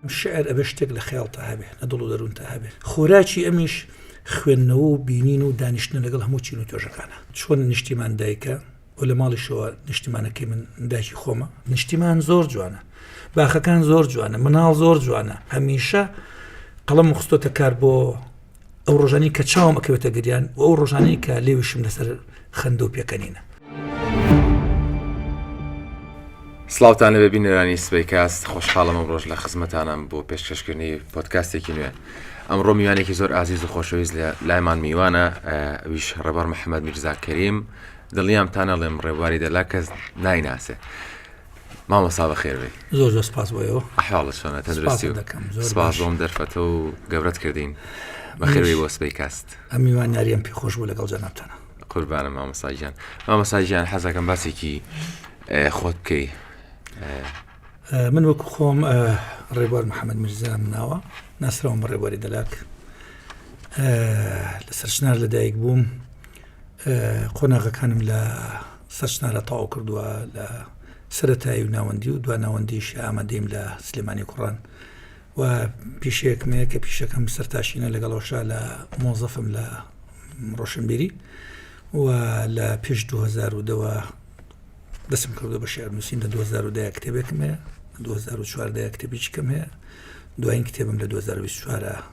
شعر ئەبێ شتێک لە خەیاڵتە هەبێ لە دڵ و دەروونتە هەبێ خۆراکی ئەمیش خوێندنەوە و بینین و دانیشتن لەگەڵ هەموو چین و تۆژەکانە چۆن نیشتیمان دایکە و لە ماڵیشەوە نیشتیمانەکەی من داکی خۆمە نیشتیمان زۆر جوانە باخەکان زۆر جوانە مناڵ زۆر جوانە هەمیشە قەڵم خستۆتە کار بۆ ئەو ڕۆژانی کە چاوم ئەکەوێتە گریان و ئەو ڕۆژانەی کە لێویشم لەسەر خەندە و پێکەنینە سلااوانە بێبی نێرانی سبەی کاست خۆشحاڵم ڕۆژ لە خزمەتانم بۆ پێشکەشکردنی پۆتکاستێکی نوێ ئەمڕۆ میوانێکی زۆر ئازیز و خۆشەویست لە لایمان میوانە ویش ڕێبەر محەممەد میرزا کەریم دڵیام تانەڵێم ڕێبواری دەلا کەس نایناسێ مامۆستا بەخێربێی زۆر زۆر سپاس بۆ ئێوە ئەحواڵە چۆنە تەندروستی و سپاست دەکەم زۆر سپاس باش. بۆم دەرفەتە و گەورەت کردین بەخێربێی بۆ سبەی کاست ئەم میوانیاریەم پێ خۆش بوو لەگەڵ جەنابتانە قوربانە مامۆساگیان مامۆساگیان حەزەکەم باسێکی ئێ، خۆت بکەی ئە، من وەکو خۆم ئە، ڕێبوار محەممەد میرزام ناوە ناسراوم بە ڕێبواری دەلاک ئە، لە سەرچنار لەدایک بووم قۆناغەکانم لە سەرچنارە تەواو کردووە لە سەتایی و ناوەندی و دو ناوەندیش ئامادەیم لە سلێمانی کوڕان و پیشەیەکمەیە کە پیشەکەم سەرتاشینە لەگەڵەوەشا لە مۆزەفم لە ڕۆشنبیری و لە پێش 2010ەوە دەسم کردو بە شعر نووسین لە 2010 کتێبێکم هەیە 2014 کتێبیچکەم هەیە دوایین کتێبم لە 2024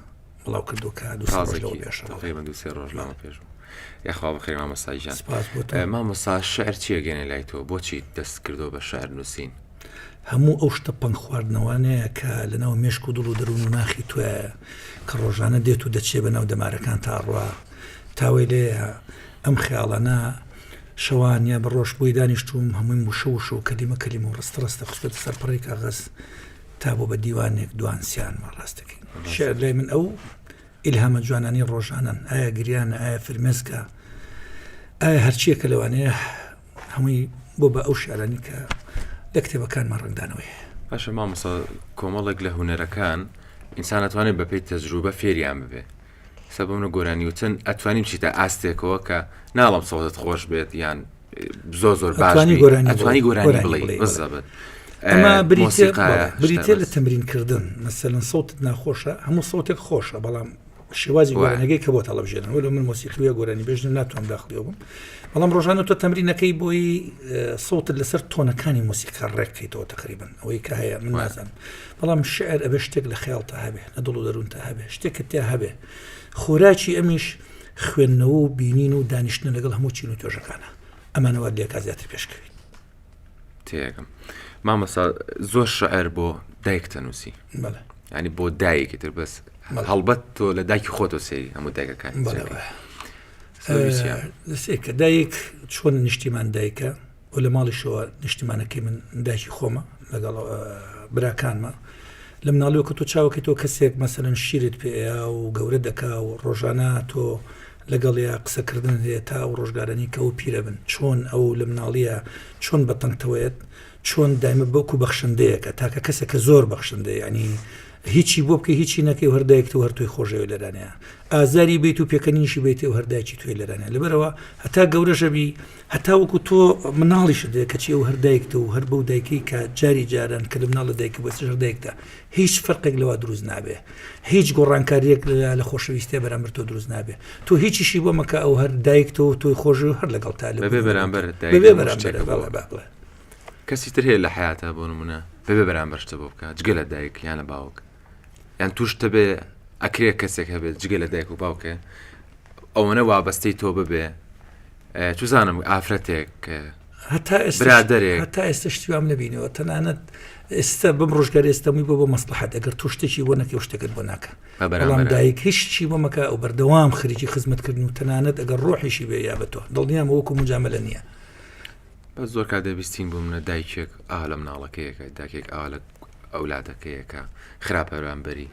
مامۆسا شعر چێگەێ لای تۆ بۆچی دەست کردو بە شعر نووسین هەموو ئەو شتە پنگ خواردنەوانەیە کە لەناو مێشک و دڵ و دەروون و ناخی توە کە ڕۆژانە دێت و دەچێ بە ناو دەمارەکان تا ڕوا تاوەی لێ ئەم خیاڵانە شەوانە بە ڕۆژ بۆی دانیشتوم هەمووی وشە وشە و کەلیمە کەلیمە و ڕستە ڕستە خستێتە سەر پڕی کاغەز تا بۆ بە دیوانێک دوان سیان مە ڕاست دەکەین شعر لای من ئەو ئیلهامە جوانانی ڕۆژانن ئایا گریان ئایا فرمێسکە ئایا هەرچیەکە لەوانەیە هەمووی بۆ بە ئەو شعرانی کە لە کتێبەکانمان ڕنگدانەوەی باشە مامۆسا کۆمەڵێک لە هوەرەکان ئینسانەتوانێت بەپی تەجروبە فێریان ببێ سەبم لە گۆرانی وتن ئەتوانین چیتە ئاستێکەوە کە ناڵم سەوزت خۆش بێت یان زۆر زۆر باشوانی گۆرانی گۆرانی بڵێ بزەبێت ئەمە بریتە لە تەمرینکردن مەسەن سەوت ناخۆشە هەموو سەوتێک خۆشە بەڵام شێوازی گۆرانەکەی کە بۆ تەڵەبژێنن وەل من مۆسیقیە گۆرانی بێژن ناتوان داخلی بووم بەڵام ڕۆژانە تۆ تەمرینەکەی بۆی سەوتت لەسەر تۆنەکانی مۆسیقا ڕێککەیتەوە تقریبن ئەوەی کە هەیە من نازانم بەڵام شیعر ئەبێ شتێک لە خەیاڵتا هەبێ لە دڵ و دەروونتا هەبێ شتێکت تیا هەبێ خۆراکی ئەمیش خوێندنەوە و بینین و دانیشتنە لەگەڵ هەموو چین و تۆژەکانە ئەمانەوە لێکا زیاتر پێشکەوین تێگەم مامەسا زۆر شعر بۆ دایک تەنووسی بەڵێ ینی بۆ دایکی تر بەس بەڵێ. هەڵبەت تۆ لە دایکی خۆتۆ سێری هەموو دایکەکان بەڵێ بەڵێ. سەویسیان. دەسێکە دایک چۆن نیشتیمان دایکە و لە ماڵیشەوە نیشتیمانەکەی من داکی خۆمە لەگەڵ براکانمە لە مناڵیەوە کە تۆ چاوەکە تۆ کەسێک مەسەرەن شیرت پێ و گەورە دەکا و ڕۆژانە تۆ لەگەڵ یا قسەکردن هەیە تا و ڕۆژگارانی کە و پیرە بن چۆن ئەو لە مناڵیە چۆن بە تەنگتەوەیەت چۆن دایمە بەوکو بەخشندەیەەکە تاکە کەسە کە زۆر بەخشندە ینی هیچی بۆ بکە هیچی نەکەی و هەردایکت و هەرتوی خۆشەوە لەرانەیە ئازاری بیت و پێکەنیشی بیت و هەرداکی توێ لەرانە لەبەرەوە هەتا گەورەشەبی هەتا وەکو تۆ مناڵیشت بێ کەچی ئەو هەر دایکتە و هەر بەو دایکەی کە جاری جاران کە لە مناڵ لە دایکە بەسش هەر دایکتە هیچ فەرقێک لەوە دروست نابێ هیچ گۆڕانکاریەک لە لە خۆشەویستێ بەرامبەر تۆ دروست نابێ تۆ هیچیشی بۆ مەکە ئەو هەر دایکتەوە تۆی خۆش و هەر لەگەڵ تا لە بەبێ بەرامبەر دایک بەبێ هەموو شتێک بەرامبەر بۆ. بەڵێ بە- بڵێ. کەسی تر هەیە لە حیاتە بۆ نمونە بەبێ بەرامبەر شتە بۆ بکە جگە لە دایک یان لە باوک یان توش تەبێ ئەکرێ کەسێک هەبێت جگە لە دایک و باوکێ ئەوەنە وابەستەی تۆ ببێ چزانم ئافرەتێک هەتا برادێک هەتا ئێستا شتیوام نبینەوە تەنانەت ئێستا بم ڕژگار ئێستەمی بۆ بۆ مەسلحات ئەگەر تۆ شتێکی بۆ نەکە شتەکەت بۆ ناکە بەڵام دایک هیچی بۆ مەکە ئەو بەردەوام خرجی خزمەتکردن و تەنانەت ئەگەر ڕۆحیشی بێ یا بە تۆ دڵنیام وەکو مجاملە نییە بەس زۆر کات دەبیستین بۆمنە دایکێک ئا لە مناڵەکەیەکە داکێک ئا لە ئەولادەکەیەکە خراپە بەرامبەری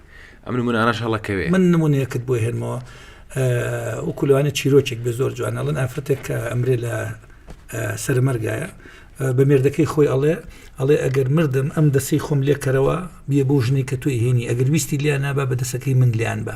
ئەم من ئاراش هەڵەکەوێ من نمونونەکەت بۆ هێنمەوە وکلوانە چیرۆکێک بە زۆر جوان ئەڵن ئافرەتێک کە ئەمرێ لە سەرمەرگایە بە مێردەکەی خۆی ئەڵێ ئەڵێ ئەگەر مردم ئەم دەسی خۆم لێکەرەوە بیە بۆ ژنی کە توی هێنی ئەگەر ویستی لیان نابا بە دەسەکەی من لیان بە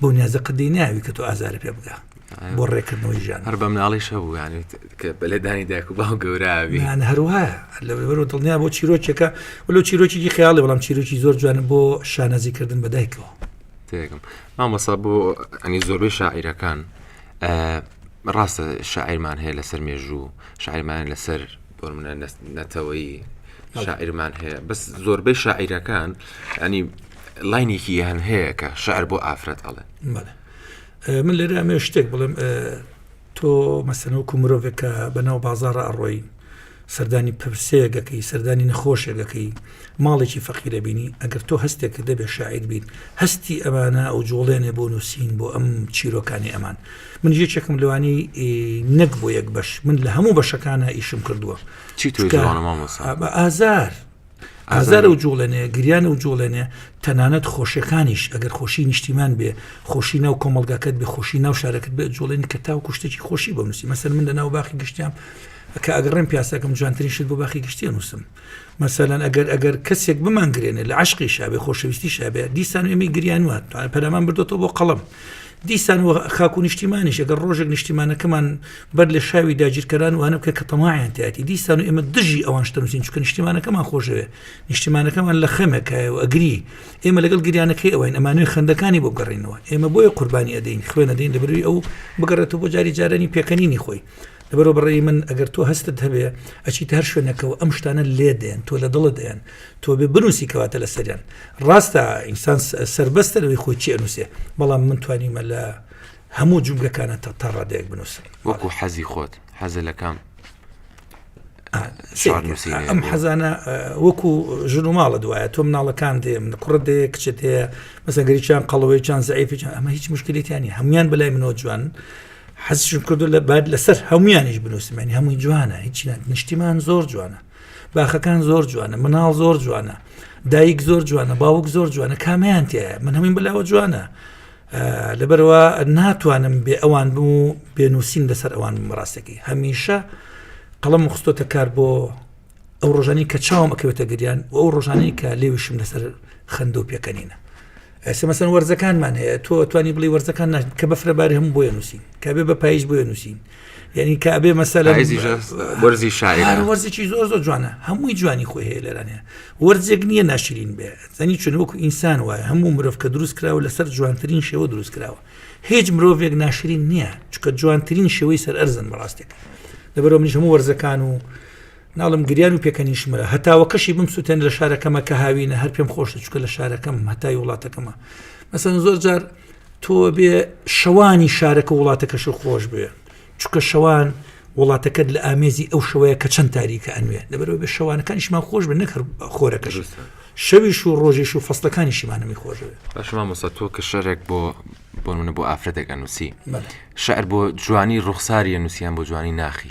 بۆ نیازە قدی ناوی کە تۆ ئازارە پێ بگا بۆ ڕێکردنەوەی ژیان هەر بەم ناڵی شەبووانێت کە بەلێدانی دایک و باو گەوراوی هەروە لە بەر و دڵنیا بۆ چیرۆکێکە ولو چیرۆکی خیاڵی بەڵام چیرۆکی زۆر جوان بۆ شانازیکردن بەدایکەوە تێگەم مامەسا بۆ ئەنی زۆربەی شاعیرەکان ڕاستە شاعیرمان هەیە لەسەر مێژوو شاعیرمان لەسەر بۆ منە نەتەوەی شاعیرمان هەیە بەس زۆربەی شاعیرەکان ئەنی لاینێکی یان هەیە کە شعر بۆ ئافرەت ئەڵێ من لێرە ئەمێ شتێک بڵێم تۆ مەسەنەوەکو مرۆڤێک کە بەناو بازارە ئەڕۆی سەردانی پرسەیەگەکەی سەردانی نەخۆشێگەکەی ماڵێکی فەقیرە بینی ئەگەر تۆ هەستێک کە دەبێ شاعیر بیت هەستی ئەمانە ئەو جوڵێنێ بۆ نووسین بۆ ئەم چیرۆکانی ئەمان من یەکێکم لەوانی نەک بۆ یەک بەش من لە هەموو بەشەکانە ئیشم کردووە ئازار ئازار و جوڵێنێ گریان و جوڵێنێ تەنانەت خۆشیەکانیش ئەگەر خۆشی نیشتیمان بێ خۆشی ناو کۆمەلگاکەت بێ خۆشی ناو شارەکەت بێ جوڵێنی کە تاو کوشتێکی خۆشی بۆ نووسی مەسەر من لە ناو باخی گشتیان کە ئەگەڕێن پیاسەکەم جوانترین شت بۆ باخی گشتیە نووسم مەسەلەن ئەگەر ئەگەر کەسێک بمانگرێنێ لە عشقی شابێ خۆشەویستی شابێ دیسان ئەمی گریان وات پەرەمان بردۆتەوە بۆ قەڵم دیسان و خاک و نیشتیمانیش ئەگەر ڕۆژێک نیشتیمانەکەمان بەر لە شاوی داگیرکەران وانە بکە کە تەماعیان تاتی دیسان و ئێمە دژی ئەوان شتەنووسین چکە نیشتیمانەکەمان خۆشەوێ نیشتیمانەکەمان لە خەمەکایە و ئەگری ئێمە لەگەڵ گریانەکەی ئەوەین ئەمانوێ خندەکانی بۆ گەڕینەوە ئێمە بۆیە قوربانی ئەدەین خوێنەدەین لە بروی ئەو بگەڕێتەوە بۆ جاری جارانی پێکەنینی خۆی لەبەرۆ بڕێ من ئەگەر تۆ هەستت هەبێ ئەچیت هەر شوێنەکەەوە ئەم شتانە لێ دێن تۆ لە دڵت دێن تۆ بێ بنووسی کەواتە لە سەریان ڕاستە ئینسان سربەستە لەوەی خۆی چی ئەنووسێ بەڵام من توانیمە لە هەموو جومگەکانە تا تا ڕادێک بنووسم وەکو حەزی خۆت حەزە لە کام ئەم حەزانە وەکو ژن و ماڵە دوایە تۆ مناڵەکان دێم کوڕ دێ کچێت هەیە مەسەگەریان قەڵەوەیان زعیفیان ئەمە هیچ مشکلێتیانی هەموان بەلای منەوە جوان حەزشم کردو لە بعد لەسەر هەمویانیش بنووسمێنی هەمووی جوانە هیچ نیشتیمان زۆر جوانە باخەکان زۆر جوانە مناڵ زۆر جوانە دایک زۆر جوانە باوک زۆر جوانە کامیان تایە من هەمین بلاوە جوانە لەبەرەوە ناتوانم بێ ئەوان بم و پێنووسین لەسەر ئەوان ڕاستەکەی هەمیشە قەڵم خستۆتە کار بۆ ئەو ڕۆژانی کە چاوم ئەکەوێتە گریان و ئەو ڕۆژانی کە لێویشم لەسەر خەندە و پێکەنینە ئێستا مەسەن وەرزەکانمان هەیە تۆ توانی بڵی وەرزەکان ناش کە بەفرە باری هەم بۆیە نووسین کە بێ بە پاییز بۆیە نووسین یعنی کابێ مەسەل وەرزی شاعر وەرزێکی زۆر زۆر جوانە هەمووی جوانی خۆی هەیە لەرانەیە وەرزێک نییە ناشرین بێ زەنی چون وەکو ئینسان وایە هەموو مرۆڤ کە دروست کراوە لەسەر جوانترین شێوە دروست کراوە هیچ مرۆڤێک ناشرین نییە چکە جوانترین شێوەی سەر ئەرزن بەڕاستێک لەبەرەوە منیش هەموو وەرزەکان و ناڵم گریان و پێکەنیش مرا هەتاوەکەشی بم سووتێن لە شارەکەمە کە هاوینە هەر پێم خۆشە چکە لە شارەکەم هەتای وڵاتەکەمە مەسەن زۆر جار تۆ بێ شەوانی شارەکە وڵاتەکەش خۆش بێ چکە شەوان وڵاتەکەت لە ئامێزی ئەو شوەیە کە چەند تاریکە ئەنوێ لەبەرەوە بێ شەوانەکانیشمان خۆش بە نەکرد خۆرەکەش شەویش و ڕۆژیش و فەستەکانیشیمانەمی خۆش باشما مۆسا تۆ کە شەرێک بۆ بۆ منە بۆ ئافرەتێک ئەنووسی شعر بۆ جوانی ڕوخساریە نووسیان بۆ جوانی ناخی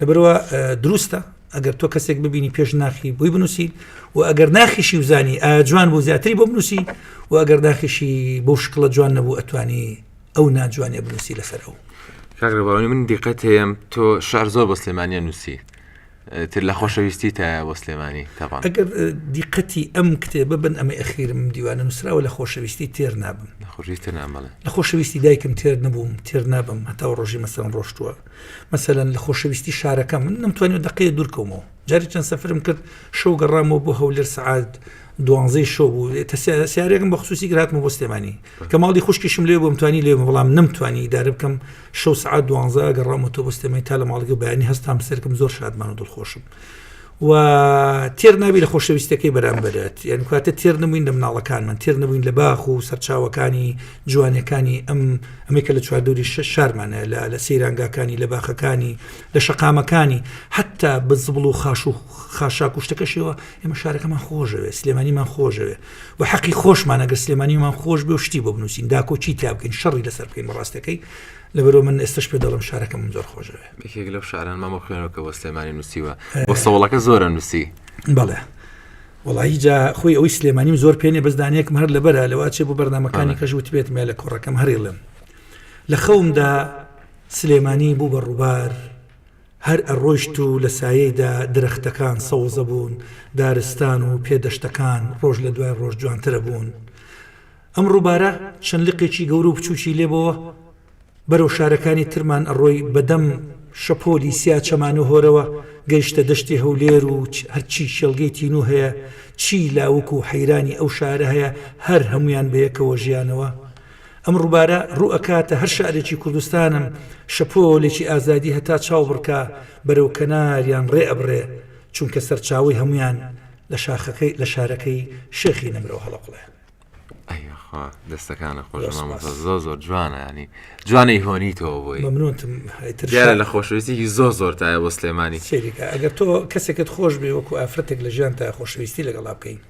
لەبەروا دروستە ئەگەر تۆ کەسێک ببینی پێش ناخی بۆی بنووسی و ئەگەر ناخیشی و زانی ئا جوان بۆ زیاتری بۆ بنووسی و ئەگەر ناخیشی بۆ شکڵە جوان نەبوو ئەتوانی ئەو ناجوانێ بنووسی لەسەر ئەو کاگرەباوانی من دیقەت هەیەم تۆ شار زۆر بە سلێمانە نووسی تر لە خۆشەویستی تا بۆ سلێمانی تاوان ئەگەر دیقەتی ئەم کتێبە بن ئەمە ئەخیرم دیوانە نووسراوە لە خۆشەویستی تێر نابم خۆشویستە نامەڵێ لە خۆشەویستی دایکم تێر نەبووم تێر نابم هەتا ڕۆژی مەسەم ڕۆشتووە مەسەلەن لە خۆشەویستی شارەکەم من نەمتوانیوە دەقەیە دوور کەومەوە جاری چەند سەفرم کرد شەو گەڕامەوە بۆ هەولێر سعات دوانزەی شەو بوو سیارێکم بە خصوصی گراتمە بۆ سلێمانی کە ماڵی خوشکیشم لێ بۆم توانی لێ بەڵام نەمتوانی دارە بکەم شەو سعات دوانزە گەڕامەوە تۆ بۆ سلێمانی تا لە ماڵگە بەیانی هەستام سەرکم زۆر شادمان و دڵخۆشم و تێر نابی لە خۆشەویستەکەی بەرامبەرت یان کاتە تێر نەبووین لە مناڵەکانمان تێر نەبووین لە باخ و سەرچاوەکانی جوانەکانی ئەم ئەمەی کە لە چواردوری شە شارمانە لە لە سەیرانگاکانی لە باخەکانی لە شەقامەکانی حتا بە زبڵ و خاش و خاشا کوشتەکەشەوە ئێمە شارەکەمان خۆشەوێت سلێمانیمان خۆشەوێ و حەقی خۆشمان ئەگەر سلێمانیمان خۆش بێ شتی بۆ بنووسین داکۆچی تا بکەین شەڕی لەسەر بکەین بەڕاستەکەی لەبەرو من ئێستش پێ دەڵم شارەکەم زۆر خۆشەوێ یەکێک لەو شاران مامە خوێنەوە کە بۆ سلێمانی نووسیوە بۆ سەوڵەکە زۆرە نووسی بەڵێ وڵی جا خۆی ئەوی سلێمانیم زۆر پێێ بەزدانەکم هەر لە بەرە لەوا چێ بۆ بەرنمەکانی کەش وت بێت مێ لە کۆڕەکەم هەریڵم لە خەومدا سلێمانی بوو بە ڕووبار هەر ئەڕۆشت و لە سایەیدا درەختەکان سەوزە بوون دارستان و پێدەشتەکان ڕۆژ لە دوای ڕۆژ جوانترە بوون ئەم ڕووبارە چەند لقێکی گەورە و بچووکی لێ بۆوە بەرەو شارەکانی ترمان ئەڕۆی بەدەم شەپۆلی سیا چەمانو هۆرەوە گەیشتە دەشتی هەولێر و هەر چی کێڵگەی تینوو هەیە چی لاوک و حەیرانی ئەو شارە هەیە هەر هەموویان بەیەکەوە ژیانەوە ئەم ڕووبارە ڕوو ئەکاتە هەر شارێکی کوردستانم شەپۆلێکی ئازادی هەتا چاو بڕکا بەرەو کەناریان ڕێ ئەبڕێ چونکە سەرچاوەی هەموویان لە شاخەکەی لە شارەکەی شێخی نەمرەوە هەڵەقڵێ. ئەیخوا دەستەکانە خۆش بەس، مامۆستا بەس. زۆر زۆر جوانە ینی جوانەی هۆنی تۆ بۆی مەمنونتم هەیتر دیارە شا- لە خۆشەویستێکی زۆر زۆر تایە بۆ سلێمانی سەیرکە ئەگەر تۆ کەسێکت خۆش بێ وەکو ئافرەتێک لە ژیان تا خۆشەویستی لەگەڵا بکەین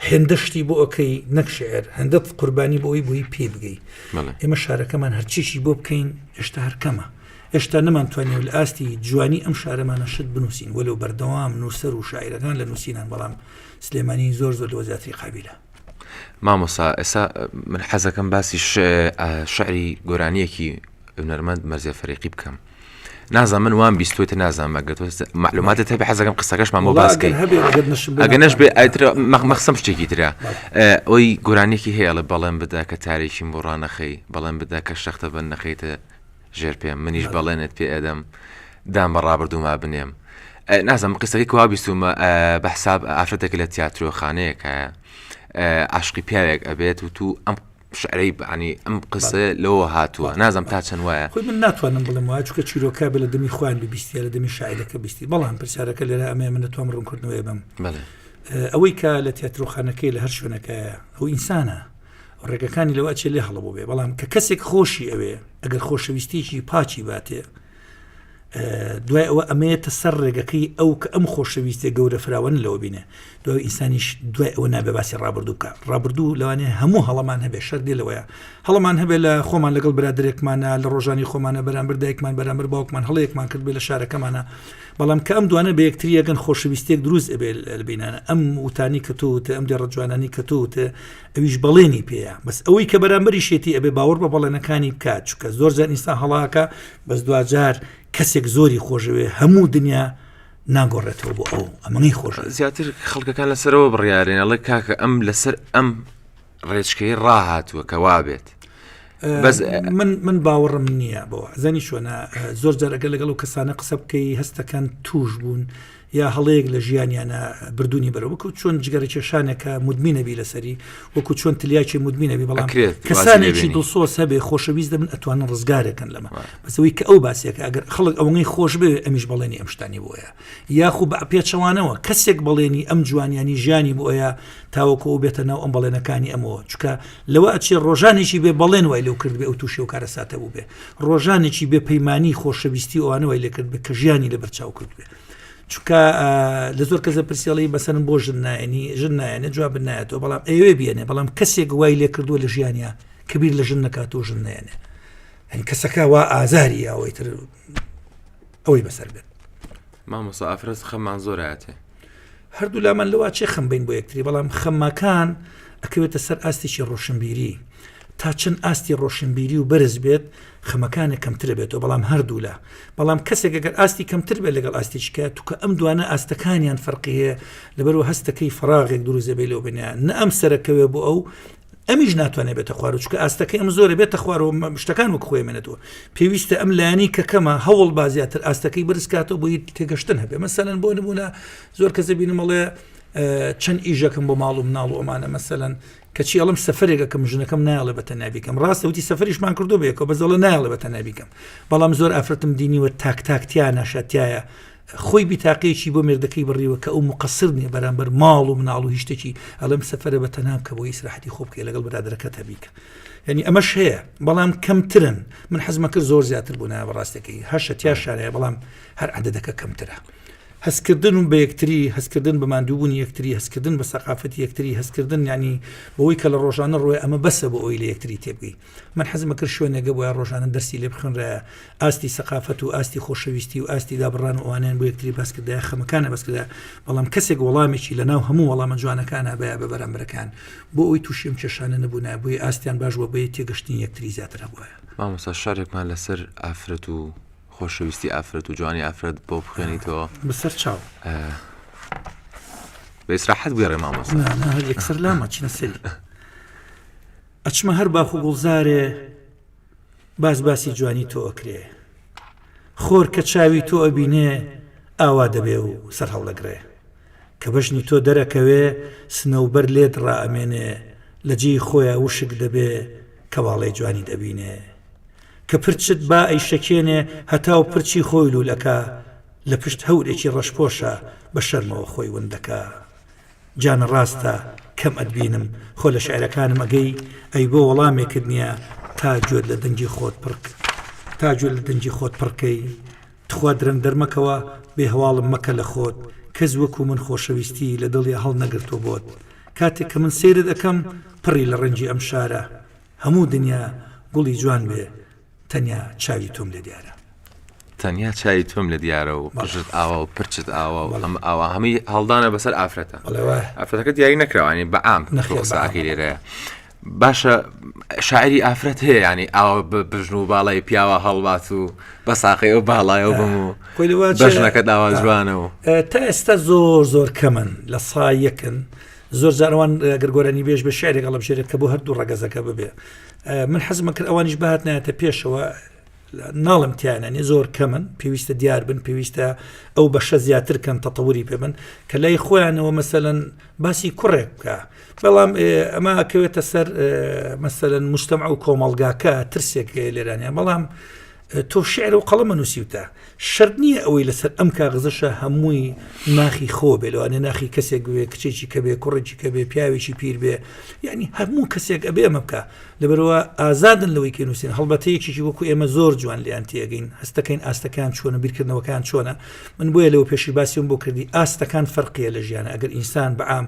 هێندە شتی بۆ ئۆکەی نەک شعر هەندە قوربانی بۆی بووی پێ بگەی بەڵێ. ئێمە شارەکەمان هەرچیشی بۆ بکەین هێشتا هەرکەمە هێشتا نەمانتوانین لە ئاستی جوانی ئەم شارەمانە شت بنووسین وەلو بەردەوام نووسەر و شاعرەکان لە نووسینان بەڵام سلێمانی زۆر زۆر لەوە زیاتری قابیلە. مامۆسا ئێسا من حەزەکەم باسی شعری گۆرانیەکی هونەرمەند مەرزێ فەرێقی بکەم نازان من وام بیستێت نازانمە گەت معلوماتە تەبی حەزەکەم قسەکەشمان بۆ باسکەی ئەگە نەش بێ ئایترە مەخمەخسم شتێکی تررا ئەوی گۆرانێکی هەیەڵە بەڵێن بدا کە تارێکیم بۆ ڕانەخەی بەڵێن بدا کە شەختە بە نەخەیتە ژێر پێم منیش بەڵێنت پێ ئەدەم دان بە ڕابردووما بنێم نازم قسەکەی کوا بیستومە بە حساب ئافرەتێک لە تیاترۆخانەیەکە عاشقی پیاوێک ئەبێت و تو ئەم شعرەی بەعنی ئەم قسە لەوە هاتووە نازم تا چەند وایە خۆی من ناتوانم بڵم وایە چکە چیرۆکە بە لە دەمی خوان ببیستی لە دەمی شاعرەکە بیستی بەڵام پرسیارەکە لێرە ئەمە من نەتوام ڕوونکردنەوەی بم ئەوەی کە لە تیاترۆخانەکەی لە هەر شوێنەکەیە ئەو ئینسانە ڕێگەکانی لەوە ئەچێ لێ هەڵەبوو بێ بەڵام کە کەسێک خۆشی ئەوێ ئەگەر خۆشەویستیکی پاچی باتێ دوای ئەوە ئەمەیەتە سەر ڕێگەکەی ئەو کە ئەم خۆشەویستێ گەورە فراوان لەوە بینێ دوای ئینسانیش دوای ئەوە نابێ باسی ڕابردوو بکە ڕابردوو لەوانێ هەموو هەڵمان هەبێ شەر دێ لەوەیە هەڵمان هەبێ لە خۆمان لەگەڵ برادێکمانە لە ڕۆژانی خۆمانە بەرامبەر دایکمان بەرامبەر باوکمان هەڵەیەکمان کرد بێ لە شارەکەمانە بەڵام کە ئەم دوانە بە یەکتری یەگەن خۆشەویستێک دروست ئەبێ لەبینانە ئەم وتانی کە تۆوتە ئەم دێڕە جوانانی کە تۆوتە ئەویش بەڵێنی پێەیە بەس ئەوەی کە بەرامبەری شێتی ئەبێ باوەڕ بە بەڵێنەکانی بکات چکە زۆر زان ئینسان هەڵاکە بەس دوجار کەسێک زۆری خۆشەوێ هەموو دنیا ناگۆڕێتەوە بۆ ئەو ئەمەی خۆش زیاتر خەڵکەکان لەسەرەوە بڕیارێنەڵێ کاکە ئەم لەسەر ئەم ڕێچکەی ڕاهاتووە کە وابێت من باوەڕم نییە بۆ زەنی شوۆنە زۆر جارەکە لەگەڵ و کەسانە قسە بکەی هەستەکان توش بوون یا هەڵەیەک لە ژیانیانە بردوونی بەرە وەکو چۆن جگەرە کێشانێکە مدمینەبی لەسەری وەکو چۆن تلیاکی مدمینەبی بەڵام کەسانێکی دڵسۆس هەبێ خۆشەویست دەبن ئەتوانن ڕزگارێکن لەمە بەسەوەی کە ئەو باسیەکە ئەگەر خەڵک ئەوەی خۆش بێ ئەمیش بەڵێنی ئەمشتانی بۆیە یاخو بە پێچەوانەوە کەسێک بەڵێنی ئەم جوانیانی ژیانی بۆیە تاوەکو ئەو بێتە ناو ئەم بەڵێنەکانی ئەمەوە چکە لەوە ئەچێ ڕۆژانێکی بێ بەڵێن وای لەو کردبێ ئەو تووشی و کارەساتە بوو بێ ڕۆژانێکی بێ پەیمانانی خۆشەویستی ئەوانەوەی لەکرد بێ کە ژیانی لە بەرچاو کرد بێ چونکە لە زۆر کەسە پرسیڵی بەسەن بۆ ژن نایەنی ژن نایەنە جواب نایەتەوە بەڵام ئەوێ بێنێ بەڵام کەسێک وای لێ کردووە لە ژیانیا کەبیر لە ژن نکات و ژن نێنێ ئەنی کەسەکە وا ئازاری ئەوەی تر ئەوەی بەسەر بێت مامۆسا ئافرەز خەمان زۆراتێ هەردوولامان لەوا چێ خەم بین بۆ یەکتری بەڵام خەمماکان ئەکەوێتە سەر ئاستێکی ڕۆشنبیری تا چەند ئاستی ڕۆشنبیری و بەرز بێت خەمەکانە کەمترە بێتەوە بەڵام هەردوولا بەڵام کەسێک گەر ئاستی کەمتر بێت لەگەڵ ئاستێکە توکە ئەم دوانە ئاستەکانیان فەرقیە لەبەرو هەستەکەی فراغێک دروزەبێ لەو بنیان نە ئەم سەرەکەوێ بۆ ئەو ئەمیش ناتوانێت بێتە خوارەوە چکە ئاستەکە ئەم زۆرە بێتە خوارەوە شتەکان وەک خۆێمێنێتەوە پێویستە ئەم لایانی کە کەمە هەوڵ با زیاتر ئاستەکەی برسکاتەوە بۆی تێگەشتن هەبێ مەسەەن بۆ نمونە زۆر کەسە بینمەڵێ چەند ئیژەکەم بۆ ماڵ و مناڵ و ئەمانە مەسەەن کەچی ئەڵم سەفرێکەکەم ژنەکەم نایڵێ بە تەنابیکەم ڕاستە وتی سەفریشمان کردو بێکەوە بەزەڵە نایڵێ بە تەنابیکەم بەڵام زۆر ئافرەتم دینیوە تاک تاکتیا ناشاتایە خۆی بیتاقەیەکی بۆ مێردەکەی بڕیوە کە ئەو موقەسر نیە بەرامبەر ماڵ و مناڵ و هیشتەکی ئەڵێم سەفرە بە تەنام کە بۆ هیچ راحەتی خۆ بکە لەگەڵ برادەکە تەبیکە ینی ئەمەش هەیە بەڵام کەمترن من حەزمە کرد زۆر زیاتر بوون بەڕاستەکەی هەشە تیا شارەیە بەڵام هەر عادەدەکە کەمترە هەستکردن و بە یەکتری هەستکردن بە مادووبوون یەکتری هەستکردن بە سەقافەت یەکتری هەستکردن ینی بۆی کە لە ڕۆژانە ڕۆێ ئەمە بەسە بۆ ئەوی لە یەکتری تێبگەی من حەزم ئەکرد شوێنێکە بۆیە ڕۆژانە دەرسی لێ بخوێنرایە ئاستی سەقافەت و ئاستی خۆشەویستی و ئاستی لابڕان و ئەوانیان بۆ یەکتری باسکردای خەمەکانە بەسکردا بەڵام کەسێک وەڵامێکی لە ناو هەموو وەڵامە جوانەکانە بە بە بەرامبەرەکان بۆ ئەوی تووشیم کێشانە نەبوونا بۆی ئاستیان باش بۆ بەی تێگەشتنی یەکتری زیاتر هەبووە مامۆستا شارێکمان لەسەر ئافرەت و خۆشەویستی ئافرەت و جوانی ئافرەت بۆ بخوێنیتەوە بەسەر چاو بە ئیسراحەت بگەڕێ مامۆستا هەر یەکسەر لامە چینە سەری ئەچمە هەر باخ و گوڵزارێ باس باسی جوانی تۆ ئەکرێ خۆر کە چاوی تۆ ئەبینێ ئاوا دەبێ و سەر هەڵدەگڕێ کە بەژنی تۆ دەرەکەوێ سنەوبەر لێت ڕائەمێنێ لە جێی خۆیان وشک دەبێ کە واڵەی جوانی دەبینێ کە پرچت با ئەی شەکێنێ هەتا و پرچی خۆی لولەکە لە پشت هەورێکی ڕەشپۆشە بە شەرمەوە خۆی وندەکە جانە ڕاستە کەم ئەتبینم خۆ لە شعرەکانم ئەگەی ئەی بۆ وەڵامێکت نیە تا گوێت لە دەنگی خۆت پڕک تا گوێت لە دەنگی خۆت پڕکەی تخوا درەنگ دەرمەکەوە بێ هەواڵم مەکە لە خۆت کەس وەکو من خۆشەویستی لە دڵیا هەڵ نەگرتوە بۆت کاتێک کە من سەیرت ئەکەم پڕی لە ڕەنجی ئەم شارە هەموو دنیا گوڵی جوان بێ تەنیا چاوی تۆم لێ دیارە. تەنیا چاوی تۆم لێ دیارە و قژت ئاوا و پرچت ئاوا و ئەم ئاوا هەمووی هەڵدانە بەسەر ئافرەتە ئافرەتەکە دیاری نەکراوانی بە ئام نەخێساقی لێرەیە باشە شاعری ئافرەت هەیە ینی ئاوا بژن و باڵی پیاوە هەڵبات و بە ساقی و باڵایەوە بم و بەژنەکە داوا جوانەوە تا ئێستا زۆر زۆر کەمن لە سایەکن زۆر زارەوان گەرگۆرانی بێژ بە شارێک هەڵبژێرێت کە بۆ هەردوو ڕگەزەکە ببێ من حەزمە کرد ئەوانیش بهات نایەتە پێشەوە ناڵم تیانانی زۆر کەمن پێویستە دیار بن پێویستە ئەو بەشە زیاتر کەن تەتەوری پێ من کە لای خۆیانەوە مەسەەن باسی کوڕێک بکە بەڵام ئەمە کەوێتە سەر مەسەەن مشتتەما و کۆمەلگاکە ترسێک لێرانە بەڵام تۆ شعر و قەڵەمە نووسیوتە شرت نییە ئەوەی لەسەر ئەم کاغزەشە هەمووی ناخی خۆ بێ لەوانێ ناخی کەسێک بێ کچێکی کە بێ کوڕێکی کە بێ پیاوێکی پیر بێ یعنی هەموو کەسێک ئەبێ ئەمە بکە لەبەرەوە ئازادن لەوەی کە نووسین هەڵبەتە یەکێکی وەکو ئێمە زۆر جوان لیان تێگەین هەستەکەین ئاستەکان چۆنە بیرکردنەوەکان چۆنە من بۆیە لەو پێشی باسیۆم بۆ کردی ئاستەکان فەرقیە لە ژیانە ئەگەر ئینسان بەعام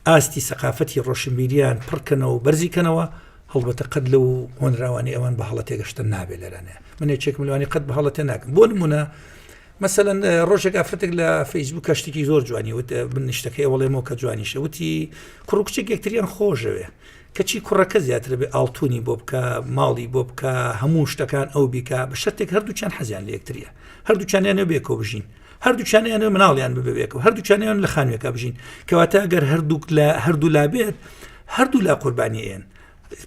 ئاستی سەقافەتی ڕۆشنبیریان پڕکەنەوە بەرزیکەنەوە هەڵبەتە قەت لەو هۆنراوانی ئەوان بە هەڵە تێگەشتن نابێت لەرانێ من یەکێکم لەوانی قەت بە هەڵەتێ ناکەم بۆ نمونە مەسەەن ڕۆژێک ئافرەتێک لە فەیسبوو کەشتێکی زۆر جوانی وت من نیشتەکەی وەڵێمەوە کە جوانیشە وتی کوڕکچێک یەکتریان خۆشەوێ کەچی کوڕەکە زیاتر بێ ئاڵتونی بۆ بکە ماڵی بۆ بکە هەموو شتەکان ئەو بیکە بە شتێک هەردووچان حەزیان لە یەکتریە هەردووچانیانە بێکۆ بژین هەردووچان یانە مناڵیان ببێکەوە هەردووچانیان لە خانوێکە بژین کەواتە گەر هەردووک لە هەردوو لا بێت هەردوو لا قوربانیەن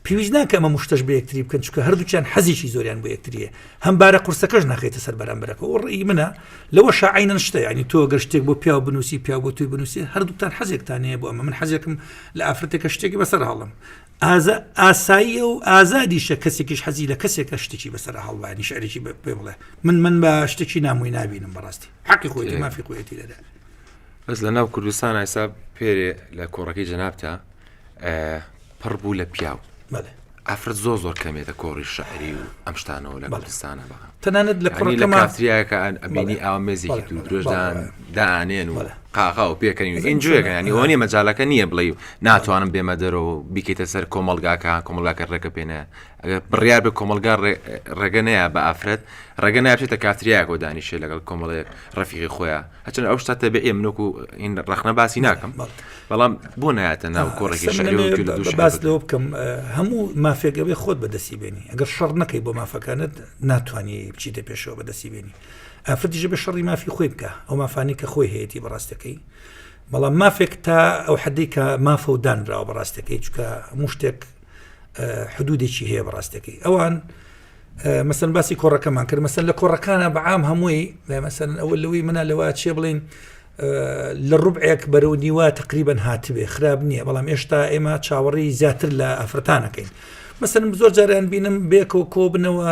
پێویست ناکە ئەمە مشتەش بە یەکتری بکەن چکە هەردووچان حەزیشی زۆریان بۆ یەکتریە هەم بارە قورسەکەش ناخیتە سەر بەرامبەرەکە و ڕێی منە لەوە شاعینەن شتە ینی تۆ گە شتێک بۆ پیاو بنووسی پیا بۆ توی بنووسی هەردووتان حەزێکتانەیە بۆ ئەمە من حەزێکم لە ئافرەتێکە شتێکی بەسەر هەڵم ئاساییە و ئازادیشە کەسێکیش حەزی لە کەسێکە شتێکی بەسەر هەڵوانی شعرێکی پێ بڵێ من من بە شتێکی نامووی نبینم بەڕاستی حقی خۆی مافی خۆیەتی دەدا بەس لە ناو کوردستان ئایسا پێرێ لە کۆڕەکەی جەنابتە پڕ بوو لە پیاو ئەفرەت زۆ زۆر کەمێتە کۆڕی شعری و ئەم شتانەوە لە کوردستانە بە تەنانەت لە کۆڕی لە کاتریاکە ئەبینی ئامێزێکی دوو درێژدان دانێن و قاغاو پێکەنین و ئینجۆیەکە ینی ئەوە نیە مەجالەکە نییە بڵێ ناتوانم بێمە دەرەوە بیکەیتە سەر کۆمەلگاکە کۆمەلگاکە ڕێکە پێێنە ئەگەر بڕیا بە کۆمەلگا ڕێگە نەیە بە ئافرەت ڕێگە نابێتە کاتریاکۆ دانیشێ لەگەڵ کۆمەڵەیەک ڕفیقی خۆیان هەچەند ئەو شتا تەبێ منۆکو ئین ڕخنە باسی ناکەم بەڵام بۆ نایەتە ناو کۆڕێکی باس لەوە بکەم هەموو مافێگەوەی خۆت بەدەستی بێنی ئەگەر شەڕ نەکەی بۆ مافەکانت ناتوانانی بچیتە پێشەوە بەدەستی بێنی ئافرەت دژە بە شەڕی مافی خۆی بکە ئەو مافانەی کە خۆی هەیەی بەڕاستەکەی بەڵام مافێک تا ئەو حدەی کە مافە و دانراوە بەڕاستەکەی چکە مشتێک حدودێکی هەیە بەڕاستەکەی ئەوان مەسن باسی کۆڕەکەمان کرد مەسن لە کۆڕەکانە بەعام هەمووی مەسن ئەو لەوەی منە لەوە چێ بڵین لە ڕوبعێک بەرەو نیوە تقریبن هاتبێ خراپ نییە بەڵام ئێشتا ئێمە چاوەڕی زیاتر لە ئەفرەتانەکەین مەسن زۆر جاریان بینم بێکەوە کۆبنەوە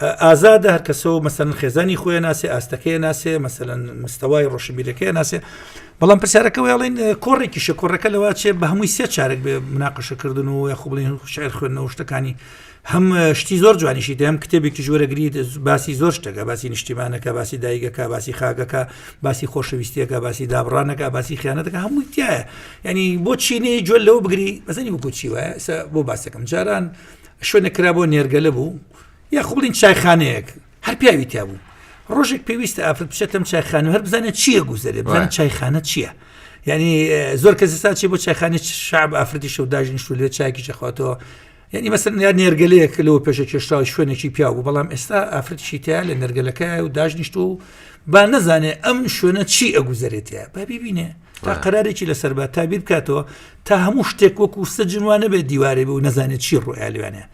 ئازادە هەرکەسەوە مەسەن خێزانی خۆی ناسێ ئاستەکەی ناسێ مەسەن مستەوای ڕۆشنبیرەکە ناسێ بەڵام پرسیارەکە وڵین کۆڕێکی شکۆڕەکە لەوا چێ بە هەمووی سێ چارێک بێ مناقەشەکردن و یا خوڵین شعر خوێندنەوە شتەکانی هەم شتی زۆر جوانیشی دەم کتێبێکی ژوەرەگری باسی زۆر شتەکە باسی نیشتیمانەکە باسی دایگەکە باسی خاگەکە باسی خۆشەویستیەکە باسی دابڕانەکە باسی خیانەتەکە هەمووی تایە ینی بۆ چینەی جوێل لەو بگری بەزنی بکوچی وایە بۆ باسەکەم جاران شوێنە کرا بۆ نێرگەلە بوو یە خوڵین چایخانەیەک هەر پیاوی تیا بوو ڕۆژێک پێویستە ئافرەت بچێتم چایخانە هەر بزانێت چییە گوزەرێ بزانێت چایخانە چییە یعنی زۆر کەس ستا چی بۆ چایخانی شعب ئافرەتی شەوداژین شو لێ چاکی چەخواتەوە یعنی مەسەر یا نێرگەلەیەک لەوە پێشە کێشتاوی شوێنێکی پیا بوو بەڵام ئێستا ئافرەتشی تیا لە نەرگەلەکە و داژنیشت و با نەزانێ ئەم شوێنە چی ئەگوزەرێتە با ببینێ تا قرارێکی لەسەر بە تابیر بکاتەوە تا هەموو شتێک وەکو سەجنوانە بێت دیوارێ بوو نەزانێت چی ڕوئالوانە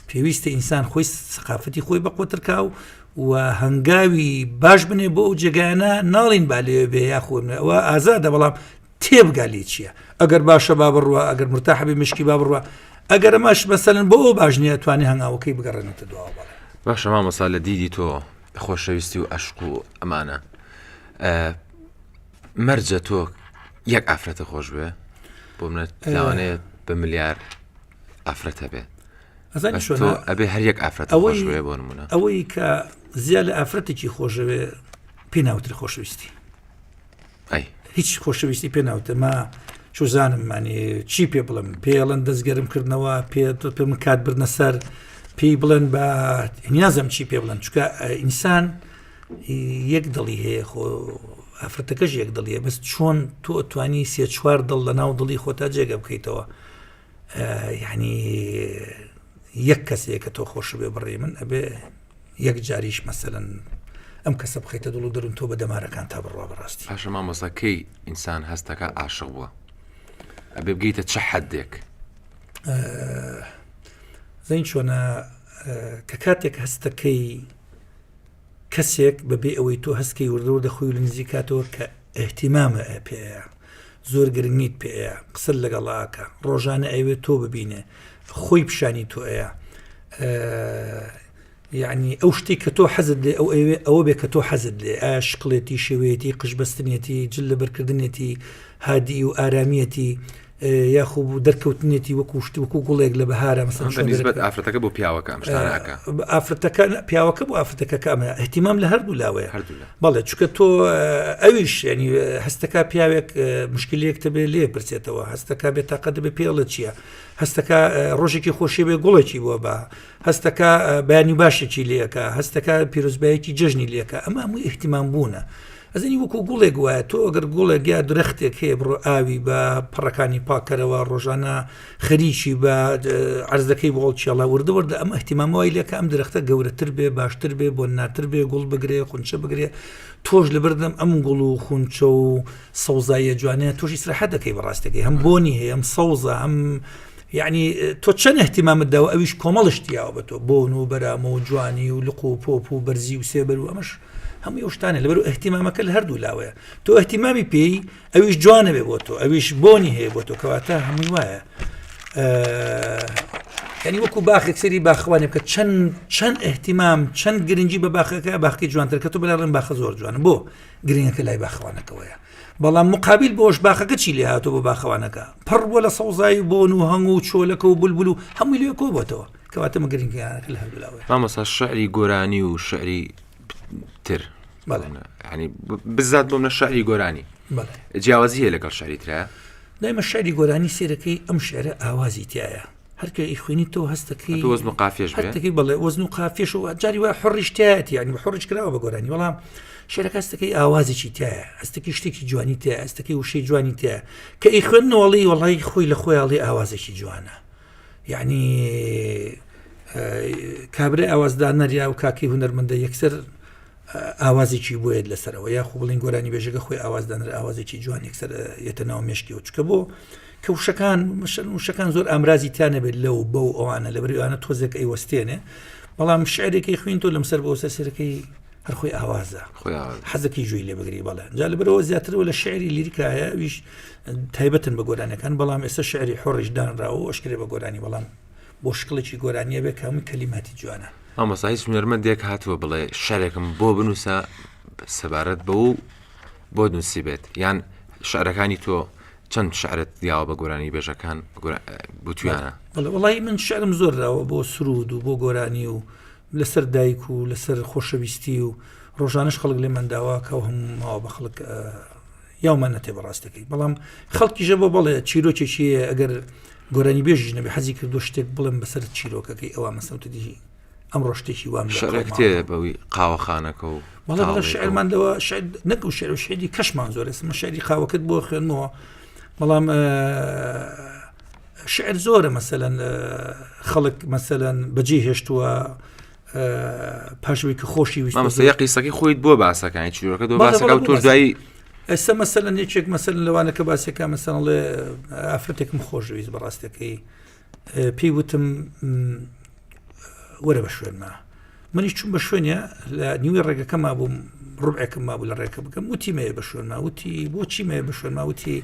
پێویستە ئینسان خۆی سقافەتی خۆی بە قوترکا و و هەنگاوی باش بنێ بۆ ئەو جێگانە ناڵین با لێ بێ یا خۆنەوە ئازادە بەڵام تێبگا لێ چییە ئەگەر باشە با بڕوە ئەگەر مرتاحبی مشکی با بڕوە ئەگەر ئەماش بەسەرن بۆ ئەو باش نیە توانێ هەنگاوەکەی بگەڕێنێتە دواوە بەڵێ باشە مامەسا لە دیدی تۆ خۆشەویستی و ئەشق و ئەمانە مەرجە تۆ یەک ئافرەتە خۆش بێ بۆ منەت لاوانەیە بە ملیار ئافرەت هەبێ ئەبێ هەریەک ئافرەت ئەوەشێ بۆ نمونە ئەوەی کە زییا لە ئافرەتێکی خۆشەوێ پێ ناوتر خۆشەویستی هیچ خۆشەویستی پێ ناوتەما چوزانم مانی چی پێ بڵم پێڵەن دەستگەرم کردنەوە پێ تۆ پێ من کات بردنە سەر پێی بڵێن بە نیازم چی پێ بڵێن چکە ئینسان یەک دڵی هەیە خۆ ئافرەتەکەش یەک دڵیە بەس چۆن تۆ توانی سێ چوار دڵ لە ناو دڵی خۆتا جێگە بکەیتەوە یانی یەک کەسێ کە تۆ خۆش بێ بڕێ من ئەبێ یەک جاریش مەسەن ئەم کەسە بخیتە دڵ و دەرون تۆ بە دەمارەکان تا بڕوا بەڕاستی پاشە مامۆساکەی ئینسان هەستەکە عاشق بووە ئەبێ بگەیتە چ حەدێک زین چۆنە کە کاتێک هەستەکەی کەسێک بە بێ ئەوەی تۆ هەست کەی وردە وردە خۆی لە نزیک کاتەوە کە ئیهتیمامە ئە پێ ئەیا زۆر گرنگیت پێ ئەیا قسە لەگەڵ ئاکە ڕۆژانە ئەوێت تۆ ببینێ خۆی پیشانی تۆ ئەیا یعنی ئەو شتی کە تۆ حەزت لێ ئەو ئەوێ ئەوە بێ کە تۆ حەزت لێ ئایا شکڵێتی شێوەیەتی قشبستنیەتی جل لەبەرکردنێتی هادی و ئارامیەتی یاخو بوو دەرکەوتنێتی وەکو شت وەکو گوڵێک لە بەهارە مەسەنسبەت ئافرەتەکە بۆ پیاوەکە ئەمشتانەکە ئافرەتەکە پیاوەکە بۆ ئافرەتەکە کامە احتیمام لە هەردوو لاوەیە بەڵێ چکە تۆ ئەویش ینی هەستەکە پیاوێک مشکلێک تەبێ لێ پرسێتەوە هەستەکە بێ تاقە دەبێ پێڵە چییە هەستەکە ڕۆژێکی خۆشی بێ گوڵێکی بووە بە هەستەکە بەیانی باشێکی لەکە هەستەکە پیرۆزبایەکی جژنی لەکە ئەمە هەموو احتیمام بوونە ئەزانی وەکو گوڵێک وایە تۆ ئەگەر گوڵێک یا درەختێک هەیە بڕۆ ئاوی بە پەڕەکانی پاکەرەوە ڕۆژانە خەریکی بە ئەرزەکەی بۆڵ چێڵە وردە وردە ئەم احتیمامەوەی لەکە ئەم درەختە گەورەتر بێ باشتر بێ بۆ ناتر بێ گوڵ بگرێ خونچە بگرێ تۆش لە بردم ئەم گوڵ و خونچە و سەوزایە جوانە تۆشی سرحە دەکەی بەڕاستەکەی هەم بۆنی هەیە ئەم سەوزە ئەم یعنی تۆ چەند احتیمامت داوە ئەویش کۆمەڵشتیاوە بە تۆ بۆن و بەرامە و جوانی و لق و پۆپ و بەرزی و سێبەر و ئەمەش هەمووی ئەو شتانە لەبەر و ئەهتیمامەکە لە هەردوو لاوەیە تۆ ئەهتیمامی پێی ئەویش جوانە بێ بۆ تۆ ئەویش بۆنی هەیە بۆ تۆ کەواتە هەمووی وایە ینی وەکو باخێک سری باخوانێ بکە چەند چەند ئەهتیمام چەند گرنگجی بە باخەکە باخکی جوانتر کە تۆ بەلاڵم باخە زۆر جوانە بۆ گرنگەکە لای باخوانەکەەوەیە بەڵام مقابل بۆش باخەکە چی لێ هاتۆ بۆ باخەوانەکە پڕ بۆ لە سەوزایی بۆن و هەنگ و چۆلەکە و بولبول و هەمووی لێ کۆبتەوە کەواتە مە گرنگی یانەکە لە هەردوو لاوەیە. مامۆستا شعری گۆرانی و شعری تر بەڵێ. بەڵێ. ینی بزات بۆم لە شعری گۆرانی بەڵێ جیاوازی هەیە لەگەڵ شعری ترە دایمە شعری گۆرانی سێرەکەی ئەم شعرە ئاوازی تایە هەرکە ئی خوێنی تۆ هەستەکەی تو وەزن و قافێش بێ هەتەکەی بەڵێ وەزن و قافێش و جاری وای حڕیشتایەتی یانی بە حڕش کراوە بە گۆرانی وەڵام شعرەکە هەستەکەی ئاوازێکی تایە هەستەکەی شتێکی جوانی تایە هەستەکەی وشەی جوانی تایە کە ئی خوێندنەوەڵی وەڵی خۆی لە خۆیاڵی ئاوازێکی جوانە یەعنی کابرای ئاوازدانەر یا و کاکەی هونەرمەندە یەکسەر ئاوازێکی بۆیت لەسەرەوە یا خو بڵین گۆرانی بێژەکە خۆی ئاوازدانەر ئاوازێکی جوان یەکسەر یەتە ناو مشکیەوە چکە بۆ کە وشەکان مشن وشەکان زۆر ئامرازی تیانەبێت لەو بە و ئەوانە لە بەریوانە تۆزێک ئەیوەستێنێ بەڵام شعرێکی خوین تۆ لەم سەر بۆ سەسەرەکەی هەرخۆی ئاوازە حەزەکەی جوێی لێ بگری بەڵێ جا لە برەوە زیاترەوە لە شعری لیریکایە ویش تایبەتن بە گۆرانەکان بەڵام ئێستا شعری حۆڕیش دانرا و ئەشکرێ بە گۆرانی بەڵام بۆ شکڵێکی گۆرانیە بێ کەمن کەلیماتی جوانە ئامەسا هیچ نەرمەندێک هاتووە بڵێ شارێکم بۆ بنووسە سەبارەت بە و بۆ نووسی بێت یان شعرەکانی تۆ چەند شعرت دیاوە بە گۆرانی بێژەکان گوتویانە وڵی من شعرم زۆرراوە بۆ سرود و بۆ گۆرانی و لەسەر دایک و لەسەر خۆشەویستی و ڕۆژانش خەڵک لێمان داواکە و هەموو ماوە بە خەڵک یاومان نەتێ بەڕاستەکەی بەڵام خەڵکیژە بۆ بەڵێ چیرۆکێکی ئەگەر گۆرانی بێژ نەبێ حەزی کردو شتێک بڵێم بەسەر چیرۆکەکەی ئەوە مەسەوتدی ئەم ڕۆشتێکی وام شارێکتێ بەوی قاوەخانەکە و بەڵام شعرمان لەوە شعر نەکو شعر و شعری کەشمان زۆر ئێسمە شعری قاوەکەت بۆ خوێنمەوە بەڵام شعر زۆرە مەسەەن خەڵک مەسەەن بەجێ هێشتووە پاشوی کە خۆشی ویسەیە قیسەکەی خۆیت بۆ باسەکانی چیرۆکە دۆ باسەکە تۆ دوایی ئێستا مەسەەن یەکێک مەسەر لەوانەکە باسەکە مەسەڵێ ئافرەتێکم خۆشویست بەڕاستەکەی پێی وتم وەرە بە شوێنما منیش چون بە شوێنە لە نیوی ڕێگەکەما بووم ڕوبعێکم مابوو لە ڕێکە بکەم وتی مەیە بە شوێنما وتی بۆچی مەیە بە شوێنما وتی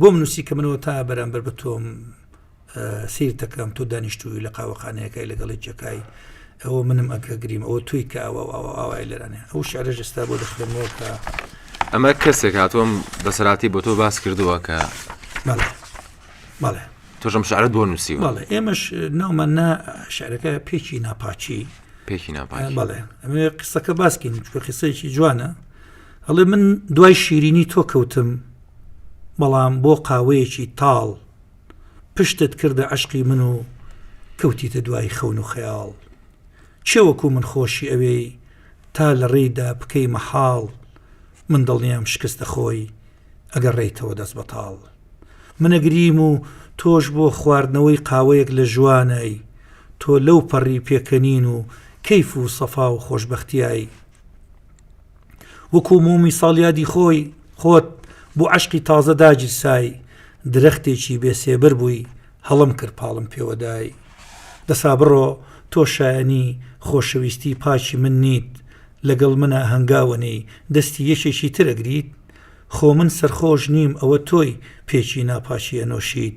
بۆم نووسی کە منەوە تا بەرامبەر بە تۆم سیر دەکەم تۆ دانیشتووی لە قاوەخانەیەەکەی لەگەڵی جەکای ئەوە منم ئەکە گریم ئەوە توی کە ئەوە ئاوای لەرانێ ئەو شعرە جستا بۆ دەخێنەوە کە ئەمە کەسێک هاتووم بەسەراتی بۆ تۆ باس کردووە کە تۆژم شعرت بۆ نووسی بەڵێ ئێمەش ناومان نا شعرەکە پێکی ناپاچی پێکی ناپاڵێ ئەمێ قسەکە باسکین چکە قسەیەکی جوانە ئەڵێ من دوای شیرینی تۆ کەوتم بەڵام بۆ قاوەیەکی تاڵ پشتت کردە عشقی من و کەوتیتە دوای خەون و خەیاڵ چێوەکو من خۆشی ئەوێی تا لە ڕێیدا بکەی مەحاڵ من دڵنیام شکستە خۆی ئەگە ڕێیتەوە دەست بەتاڵ منەگریم و تۆش بۆ خواردنەوەی قاوەیەک لە ژوانایی تۆ لەو پەڕی پێکەنین و کەیف و سەفا و خۆشببختیایی وەکو مۆمی ساڵیادی خۆی خۆت بۆ عەشقی تازە داگیرسای درەختێکی بێ سێبەر بووی هەڵم کرد پاڵم پێوەدای دەسا بڕۆ تۆ شایەنی خۆشەویستی پاکی من نیت لەگەڵ منە هەنگاوەنی دەستی یەکێکی ترەگریت خۆ من سەرخۆش نیم ئەوە تۆی پێکی ناپاکی ئەنۆشیت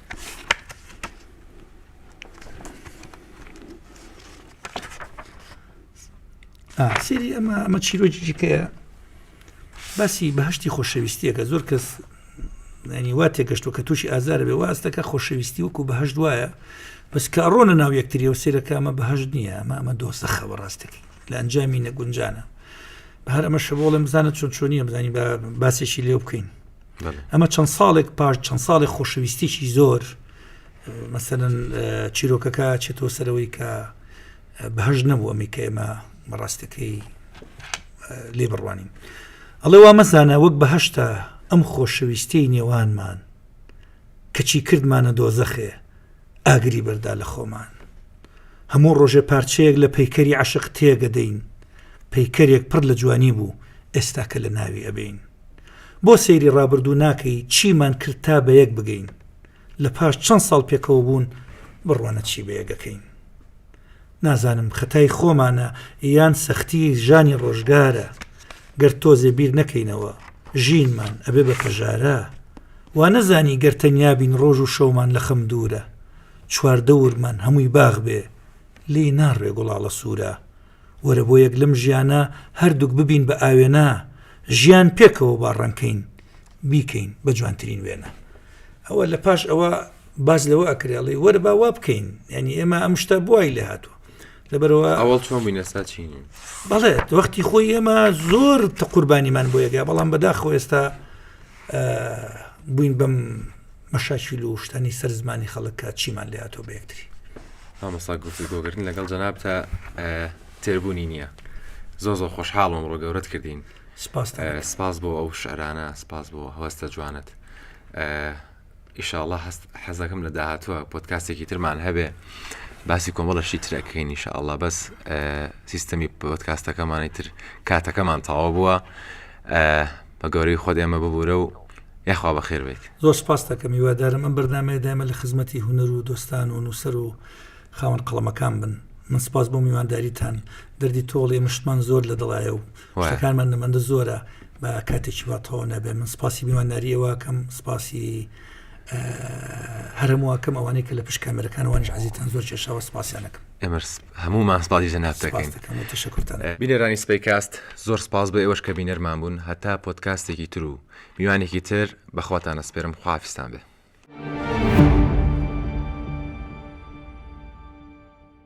سری ئەمە ئەمە چیرۆکی جیکەیە باسی بەهشتی خۆشەویستیەکە زۆر کەس ینی وا تێگەشتۆ کە تووشی ئازار بێ واستەکە خۆشەویستی وەکو بەهشت وایە بەس کارۆنە ناو یەکتریەوە سێرەکە ئەمە بەهشت نییە ئەمە ئەمە دۆسەخە بەڕاستەکە لە ئەنجامی نەگونجانە بە هەر ئەمە شەبۆڵێ بزانە چۆن چۆنیە بزانانی بە باسێکی لێ بکەین ئەمە چەند ساڵێک پاش چەند ساڵی خۆشەویستێکی زۆر مەسەن چیرۆکەکە چێتۆ سەرەوەی کە بەهژ نەبوو ئەمی کە ئێمە بەڕاستەکەی لێ بڕوانین ئەڵێ وا مەزانە وەک بەهشتا ئەم خۆشەویستی نێوانمان کەچی کردمانە دۆزەخێ ئاگری بەردا لە خۆمان هەموو ڕۆژێ پارچەیەک لە پەیکەری عشق تێگەدەین پەیکەرێک پڕ لە جوانی بوو ئێستاکە لە ناوی ئەبین بۆ سەیری ڕابردوو ناکەی چیمان کرد تا بەیەک بگەین لە پاش چەند ساڵ پێکەوە بوون بڕوانە چی بەیەگەکەین نازانم خەتای خۆمانە یان سەختی ژانی ڕۆژگارە گەر تۆزێ بیر نەکەینەوە ژینمان ئەبێ بە پەژارە وا نەزانی گەر تەنیابین ڕۆژ و شەومان لە خەم دوورە چواردەورمان هەمووی باغ بێ لی ناڕێ گوڵاڵە سوورە وەرە بۆ یەک لەم ژیانە هەردووک ببین بە ئاوێنە ژیان پێکەوە با ڕەنکەین بیکەین بە جوانترین وێنە ئەوە لە پاش ئەوە باز لەوە ئەکرێڵی وەرە با وا بکەین ینی ئێمە ئەم شتە بوای لە هاتووە لەبەرەوە ئەوڵ چۆن بووینە ساچین بەڵێت وەختی خۆی ئێمە زۆر تە قوربانیمان بۆ یەگە بەڵام بەداخۆ ئێستا بووین بەم مەشاکیل و شتانی سەر زمانی خەڵک کە چیمان لێ هاتووە بە یەکتری. مامۆستا گفتوگۆکردن لەگەڵ جەنابتە تێربوونی نییە زۆر زۆر خۆشحاڵم ئەمڕۆ گەورەت کردین سپاستان. سپاس بۆ ئەو شعرانە سپاس بۆ هەستە جوانت ئیشاڵا هەست حەزەکەم لە داهاتووە پۆتکاستێکی ترمان هەبێ باسی کۆمەڵەشی ترەکەین ئیشاءڵا بەس سیستەمی پۆتکاستەکەمانی تر کاتەکەمان تەواو بووە بە گەورەی خۆت ئێمە ببورە و یاخوا بەخێر بێت. زۆر سپاست دەکەم هیوادارم ئەم بەردامەیە دایمە لە خزمەتی هونەر و دۆستان و نووسەر و خاوەن قەڵەمەکان بن من سپاس بۆ میوانداریتان دەردی تۆڵێ مشتمان زۆر لە دڵایە و شتەکانمان نەمەندە زۆرە بە کاتێکی واتەوە نابێ من سپاسی میوانداریەوەکەم سپاسی هەرموواکەم ئەوانەی کە لە پشت کامەرەکانوانش عزیتان زۆر کێشاوە سپاسیانەکەم ئێمەش هەموومان سپاسی جەنابت دەکەین. سپاس دەکەم و تەشەکورتان دەکەم. بینەرانی سپەیکاست زۆر سپاس بۆ ئێوەش کە بینەرمان بوون هەتا پۆدکاستێکی تر و میوانێکی تر بە خواتان ئەسپێرم خواحافیزتان بێ.